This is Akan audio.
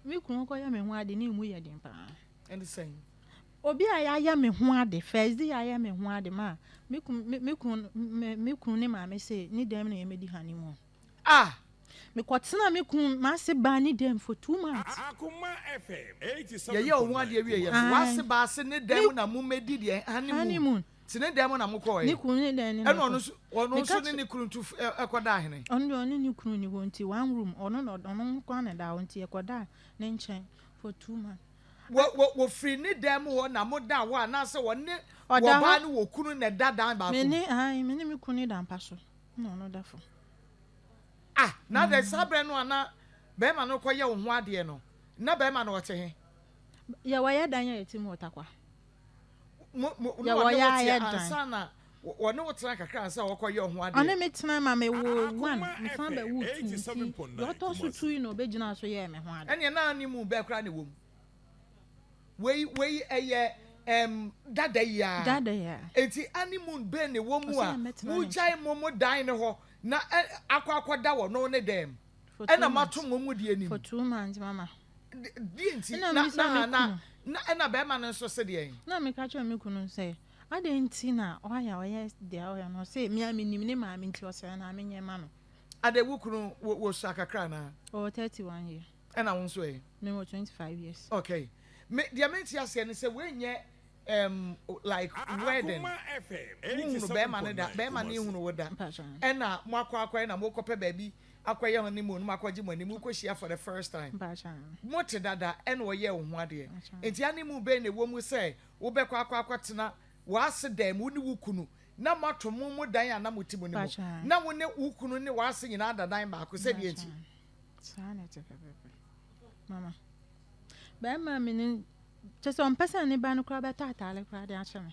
Me kunu kɔyɛ me ho ade ne emu yɛ den paa. Ɛne sɛn? Obi a yɛayɛ me ho ade first day yɛayɛ me ho ade ma me kunu me kunu me kunu ne maame se ne dɛm na yɛmɛdi honeymoon. Ah! Mekɔtena me kunu m'ase baa ne dɛm for two months. Akoma FM eighty seven point nine. Yɛyɛ wo ho ade awie yɛ so w'ase baa ase ne dɛm na momɛdi deɛ honeymoon. Honeymoon. Tene dɛn mu na mokɔɔ ɛ? Ɛna ɔno nso, ɔno nso ne ne kunu tu kɔdaa hene? Ɔno deɛ ɔne ne kunu ni hɔ nti one room, ɔno na ɔno nko ara na ɛda hɔ nti yɛkɔdaa ne nkyɛn for two months. Wɔ wɔ wɔfiri ne dan mu hɔ na modaa hɔ anaasɛ ɔne wɔbaa ne wɔkunu na ɛda dan baako mu? Me ne ae, me ne me kunu ne da mpa so na ɔno da fam. Ah, na adɛn saa berɛ no a na barima no rekɔyɛ wo ho adeɛ no, na barima no ɔte he? Yɛ wɔyɛ dan a yɛte mu wɔ Tarkwa. Deɛ wɔyɛ ayɛ dan. Ɔne me tena ma me woo one mesan bɛ woo two nti deɛ ɔtɔ so two yi na ɔbɛ gyinaa so yɛɛ me ho ade. Ɛneɛ na ne mu bɛ koraa na ɛwɔ mu. Wei wei ɛyɛ ɛɛm dada yi aa. Dada yi aa. Ɛnti ane moon bɛ na ɛwɔ mu a mo gyae mo mo dan no hɔ na ɛ akɔ akɔ da wɔ no ne dɛɛm. ɛna mato mo mu deɛ nim. for two months mama. deɛ nti na na na na ɛna bɛrima no nso se deɛ. na meka kyerɛ me kunu sɛ adɛn nti na ɔayɛ a ɔyɛ deɛ ɔyɛ no ɔse mea menim ne maame nti ɔsɛ na menyɛ ma no. ade wo kunu wɔ wɔ sua kakra anaa. ɔwɔ thirty one year. ɛna wo nso ɛ. mewɔ twenty five years. okay me deɛ mente aseɛ ne sɛ wei nyɛ um like wedding wohunu bɛrima no da bɛrima no ehunu wo da ɛna mo akɔ akɔyɛ na mo kɔpɛ baabi akɔyɛ honeymoon no mo akɔgye mo anim kɔ hyia for the first time mo te dada ɛna ɔyɛ wo ho adeɛ nti honeymoon bɛn na ɛwɔ mu sɛ wobɛkɔ akɔ akɔtena w'ase dan mu wo ne wo kunu na mo ato mo mo dan a na mo te mu no mu na wo ne wo kunu ne w'ase nyinaa da dan baako sɛdeɛ nti. Saa na ɛte pɛpɛpɛ. Mama. Bɛrima me no kyɛ sɛ ɔmpɛ sɛ ne ba no koraa bɛtɔ ataare koraa de akyɛ me.